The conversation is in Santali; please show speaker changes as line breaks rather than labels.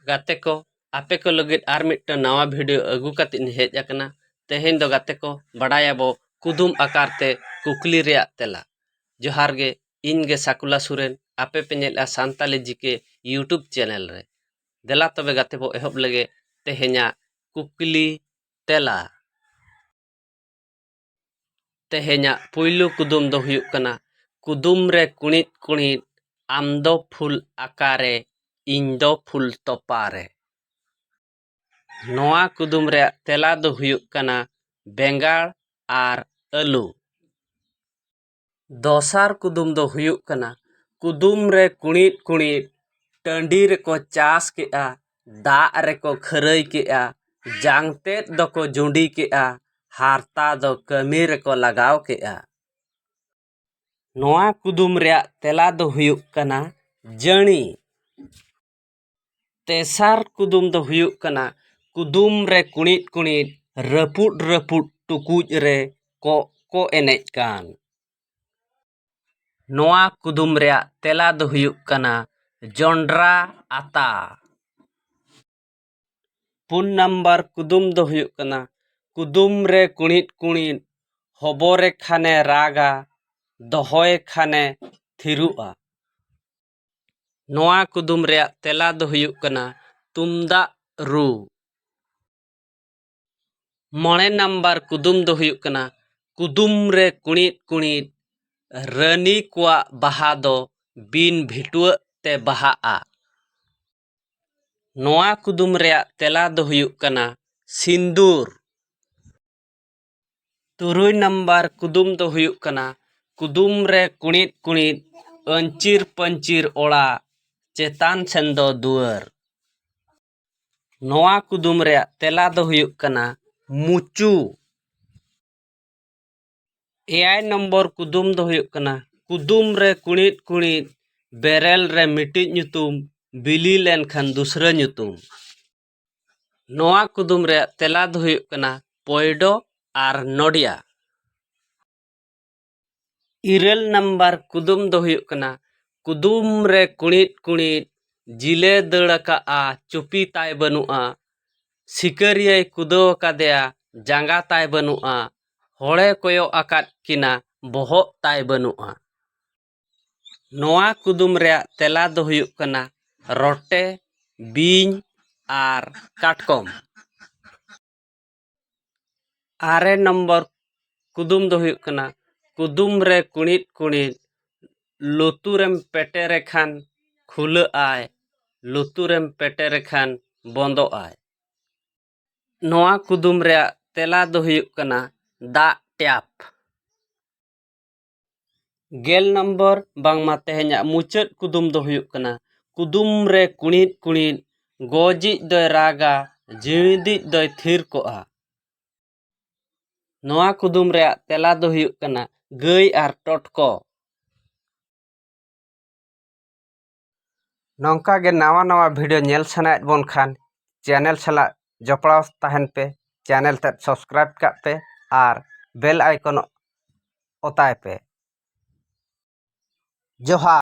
ᱜᱟᱛᱮ ᱠᱚ ᱟᱯᱮ ᱠᱚ ᱞᱟᱹᱜᱤᱫ ᱟᱨ ᱢᱤᱫᱴᱟᱹᱝ ᱱᱟᱣᱟ ᱵᱷᱤᱰᱤᱭᱳ ᱟᱹᱜᱩ ᱠᱟᱛᱮᱫ ᱤᱧ ᱦᱮᱡ ᱟᱠᱟᱱᱟ ᱛᱮᱦᱮᱧ ᱫᱚ ᱜᱟᱛᱮ ᱠᱚ ᱵᱟᱰᱟᱭᱟᱵᱚ ᱠᱩᱫᱩᱢ ᱟᱠᱟᱨ ᱛᱮ ᱠᱩᱠᱞᱤ ᱨᱮᱭᱟᱜ ᱛᱮᱞᱟ ᱡᱚᱦᱟᱨ ᱜᱮ ᱤᱧ ᱜᱮ ᱥᱟᱠᱩᱞᱟ ᱥᱚᱨᱮᱱ ᱟᱯᱮ ᱯᱮ ᱧᱮᱞᱮᱫᱼᱟ ᱥᱟᱱᱛᱟᱞᱤ ᱡᱤ ᱠᱮ ᱤᱭᱩᱴᱩᱵᱽ ᱪᱮᱱᱮᱞ ᱨᱮ ᱫᱮᱞᱟ ᱛᱚᱵᱮ ᱜᱟᱛᱮ ᱵᱚ ᱮᱦᱚᱵ ᱞᱮᱜᱮ ᱛᱮᱦᱮᱧᱟᱜ ᱠᱩᱠᱞᱤ ᱛᱮᱞᱟ ᱛᱮᱦᱮᱧᱟᱜ ᱯᱩᱭᱞᱩ ᱠᱩᱫᱩᱢ ᱫᱚ ᱦᱩᱭᱩᱜ ᱠᱟᱱᱟ ᱠᱩᱫᱩᱢ ᱨᱮ ᱠᱩᱬᱤᱫ ᱠᱩᱬᱤᱫ ᱟᱢ ᱫᱚ ᱯᱷᱩᱞ ᱟᱠᱟᱨᱮ ᱤᱧ ᱫᱚ ᱯᱷᱩᱞ ᱛᱚᱯᱟ ᱨᱮ ᱱᱚᱣᱟ ᱠᱩᱫᱩᱢ ᱨᱮᱭᱟᱜ ᱛᱮᱞᱟ ᱫᱚ ᱦᱩᱭᱩᱜ ᱠᱟᱱᱟ ᱵᱮᱸᱜᱟᱲ ᱟᱨ ᱟᱹᱞᱩ ᱫᱚᱥᱟᱨ ᱠᱩᱫᱩᱢ ᱫᱚ ᱦᱩᱭᱩᱜ ᱠᱟᱱᱟ ᱠᱩᱫᱩᱢ ᱨᱮ ᱠᱩᱬᱤᱫ ᱠᱩᱬᱤᱫ ᱴᱟᱺᱰᱤ ᱨᱮᱠᱚ ᱪᱟᱥ ᱠᱮᱫᱼᱟ ᱫᱟᱜ ᱨᱮᱠᱚ ᱠᱷᱟᱹᱨᱟᱹᱭ ᱠᱮᱫᱼᱟ ᱡᱟᱝ ᱛᱮᱫ ᱫᱚᱠᱚ ᱡᱩᱸᱰᱤ ᱠᱮᱫᱼᱟ ᱦᱟᱨᱛᱟ ᱫᱚ ᱠᱟᱹᱢᱤ ᱨᱮᱠᱚ ᱞᱟᱜᱟᱣ ᱠᱮᱫᱼᱟ ᱱᱚᱣᱟ ᱠᱩᱫᱩᱢ ᱨᱮᱭᱟᱜ ᱛᱮᱞᱟ ᱫᱚ ᱦᱩᱭᱩᱜ ᱠᱟᱱᱟ ᱡᱟᱺᱬᱤ ᱛᱮᱥᱟᱨ ᱠᱩᱫᱩᱢ ᱫᱚ ᱦᱩᱭᱩᱜ ᱠᱟᱱᱟ ᱠᱩᱫᱩᱢ ᱨᱮ ᱠᱩᱬᱤᱫ ᱠᱩᱬᱤᱫ ᱨᱟᱹᱯᱩᱫ ᱨᱟᱹᱯᱩᱫ ᱴᱩᱠᱩᱡ ᱨᱮ ᱠᱚᱜ ᱠᱚ ᱮᱱᱮᱡ ᱠᱟᱱ ᱱᱚᱣᱟ ᱠᱩᱫᱩᱢ ᱨᱮᱭᱟᱜ ᱛᱮᱞᱟ ᱫᱚ ᱦᱩᱭᱩᱜ ᱠᱟᱱᱟ ᱡᱚᱱᱰᱨᱟ ᱟᱛᱟ ᱯᱩᱱ ᱱᱟᱢᱵᱟᱨ ᱠᱩᱫᱩᱢ ᱫᱚ ᱦᱩᱭᱩᱜ ᱠᱟᱱᱟ ᱠᱩᱫᱩᱢ ᱨᱮ ᱠᱩᱬᱤᱫ ᱠᱩᱬᱤᱫ ᱦᱚᱵᱚᱨᱮ ᱠᱷᱟᱱᱮ ᱨᱟᱜᱟ ᱫᱚᱦᱚᱭᱮ ᱠᱷᱟᱱᱮ ᱛᱷᱤᱨᱚᱜᱼᱟ ᱱᱚᱣᱟ ᱠᱩᱫᱩᱢ ᱨᱮᱭᱟᱜ ᱛᱮᱞᱟ ᱫᱚ ᱦᱩᱭᱩᱜ ᱠᱟᱱᱟ ᱛᱩᱢᱫᱟᱜ ᱨᱩ ᱢᱚᱬᱮ ᱱᱟᱢᱵᱟᱨ ᱠᱩᱫᱩᱢ ᱫᱚ ᱦᱩᱭᱩᱜ ᱠᱟᱱᱟ ᱠᱩᱫᱩᱢ ᱨᱮ ᱠᱩᱬᱤᱫ ᱠᱩᱬᱤᱫ ᱨᱟᱹᱱᱤ ᱠᱚᱣᱟᱜ ᱵᱟᱦᱟ ᱫᱚ ᱵᱤᱱ ᱵᱷᱤᱴᱣᱟᱹᱜ ᱛᱮ ᱵᱟᱦᱟᱜᱼᱟ ᱱᱚᱣᱟ ᱠᱩᱫᱩᱢ ᱨᱮᱭᱟᱜ ᱛᱮᱞᱟ ᱫᱚ ᱦᱩᱭᱩᱜ ᱠᱟᱱᱟ ᱥᱤᱸᱫᱩᱨ ᱛᱩᱨᱩᱭ ᱱᱟᱢᱵᱟᱨ ᱠᱩᱫᱩᱢ ᱫᱚ ᱦᱩᱭᱩᱜ ᱠᱟᱱᱟ ᱠᱩᱫᱩᱢ ᱨᱮ ᱠᱩᱬᱤᱫ ᱠᱩᱬᱤᱫ ᱟᱹᱧᱪᱤᱨ ᱯᱟᱹᱧᱪᱤᱨ ᱚᱲᱟᱜ ᱪᱮᱛᱟᱱ ᱥᱮᱱ ᱫᱚ ᱫᱩᱣᱟᱹᱨ ᱱᱚᱣᱟ ᱠᱩᱫᱩᱢ ᱨᱮᱭᱟᱜ ᱛᱮᱞᱟ ᱫᱚ ᱦᱩᱭᱩᱜ ᱠᱟᱱᱟ ᱢᱩᱪᱩ ᱮᱭᱟᱭ ᱱᱚᱢᱵᱚᱨ ᱠᱩᱫᱩᱢ ᱫᱚ ᱦᱩᱭᱩᱜ ᱠᱟᱱᱟ ᱠᱩᱫᱩᱢ ᱨᱮ ᱠᱩᱬᱤᱫ ᱠᱩᱬᱤᱫ ᱵᱮᱨᱮᱞ ᱨᱮ ᱢᱤᱫᱴᱤᱡ ᱧᱩᱛᱩᱢ ᱵᱤᱞᱤ ᱞᱮᱱᱠᱷᱟᱱ ᱫᱩᱥᱨᱟᱹ ᱧᱩᱛᱩᱢ ᱱᱚᱣᱟ ᱠᱩᱫᱩᱢ ᱨᱮᱭᱟᱜ ᱛᱮᱞᱟ ᱫᱚ ᱦᱩᱭᱩᱜ ᱠᱟᱱᱟ ᱯᱚᱭᱰᱚ ᱟᱨ ᱱᱚᱰᱤᱭᱟ ᱤᱨᱟᱹᱞ ᱱᱟᱢᱵᱟᱨ ᱠᱩᱫᱩᱢ ᱫᱚ ᱦᱩᱭᱩᱜ ᱠᱟᱱᱟ ᱠᱩᱫᱩᱢ ᱨᱮ ᱠᱩᱬᱤᱫ ᱠᱩᱬᱤᱫ ᱡᱤᱞᱮ ᱫᱟᱹᱲ ᱟᱠᱟᱫᱼᱟ ᱪᱩᱯᱤ ᱛᱟᱭ ᱵᱟᱹᱱᱩᱜᱼᱟ ᱥᱤᱠᱟᱹᱨᱤᱭᱟᱹᱭ ᱠᱩᱫᱟᱹᱣ ᱟᱠᱟᱫᱮᱭᱟ ᱡᱟᱸᱜᱟ ᱛᱟᱭ ᱵᱟᱹᱱᱩᱜᱼᱟ ᱦᱚᱲᱮ ᱠᱚᱭᱚᱜ ᱟᱠᱟᱫ ᱠᱤᱱᱟ ᱵᱚᱦᱚᱜ ᱛᱟᱭ ᱵᱟᱹᱱᱩᱜᱼᱟ ᱱᱚᱣᱟ ᱠᱩᱫᱩᱢ ᱨᱮᱭᱟᱜ ᱛᱮᱞᱟ ᱫᱚ ᱦᱩᱭᱩᱜ ᱠᱟᱱᱟ ᱨᱚᱴᱮ ᱵᱤᱧ ᱟᱨ ᱠᱟᱴᱠᱚᱢ ᱟᱨᱮ ᱱᱚᱢᱵᱚᱨ ᱠᱩᱫᱩᱢ ᱫᱚ ᱦᱩᱭᱩᱜ ᱠᱟᱱᱟ ᱠᱩᱫᱩᱢ ᱨᱮ ᱠᱩᱬᱤᱫ ᱠᱩᱬᱤᱫ ᱞᱩᱛᱩᱨᱮᱢ ᱯᱮᱴᱮᱨᱮ ᱠᱷᱟᱱ ᱠᱷᱩᱞᱟᱹᱜ ᱟᱭ ᱞᱩᱛᱩᱨᱮᱢ ᱯᱮᱴᱮᱨᱮ ᱠᱷᱟᱱ ᱵᱚᱱᱫᱚᱜ ᱟᱭ ᱱᱚᱣᱟ ᱠᱩᱫᱩᱢ ᱨᱮᱭᱟᱜ ᱛᱮᱞᱟ ᱫᱚ ᱦᱩᱭᱩᱜ ᱠᱟᱱᱟ ᱫᱟᱜ ᱴᱮᱯ ᱜᱮᱞ ᱱᱚᱢᱵᱚᱨ ᱵᱟᱝᱢᱟ ᱛᱮᱦᱮᱧᱟᱜ ᱢᱩᱪᱟᱹᱫ ᱠᱩᱫᱩᱢ ᱫᱚ ᱦᱩᱭᱩᱜ ᱠᱟᱱᱟ ᱠᱩᱫᱩᱢ ᱨᱮ ᱠᱩᱬᱤᱫ ᱠᱩᱬᱤᱫ ᱜᱚᱡᱤᱡ ᱫᱚᱭ ᱨᱟᱜᱟ ᱡᱤᱣᱤᱫᱤᱡ ᱫᱚᱭ ᱛᱷᱤᱨ ᱠᱚᱜᱼᱟ ᱱᱚᱣᱟ ᱠᱩᱫᱩᱢ ᱨᱮᱭᱟᱜ ᱛᱮᱞᱟ ᱫᱚ ᱦᱩᱭᱩᱜ ᱠᱟᱱᱟ ᱜᱟᱹᱭ ᱟᱨ ᱴᱚᱴᱠᱚ ᱱᱚᱝᱠᱟ ᱜᱮ ᱱᱟᱣᱟ ᱱᱟᱣᱟ ᱵᱷᱤᱰᱤᱭᱳ ᱧᱮᱞ ᱥᱟᱱᱟᱭᱮᱫ ᱵᱚᱱ ᱠᱷᱟᱱ ᱪᱮᱱᱮᱞ ᱥᱟᱞᱟᱜ ᱡᱚᱯᱲᱟᱣ ᱛᱟᱦᱮᱱ ᱯᱮ ᱪᱮᱱᱮᱞ ᱛᱮᱫ ᱥᱟᱵᱥᱠᱨᱟᱭᱤᱵᱽ ᱠᱟᱜ ᱯᱮ ᱟᱨ ᱵᱮᱞ ᱟᱭᱠᱚᱱ ᱚᱛᱟᱭ ᱯᱮ ᱡᱚᱦᱟᱨ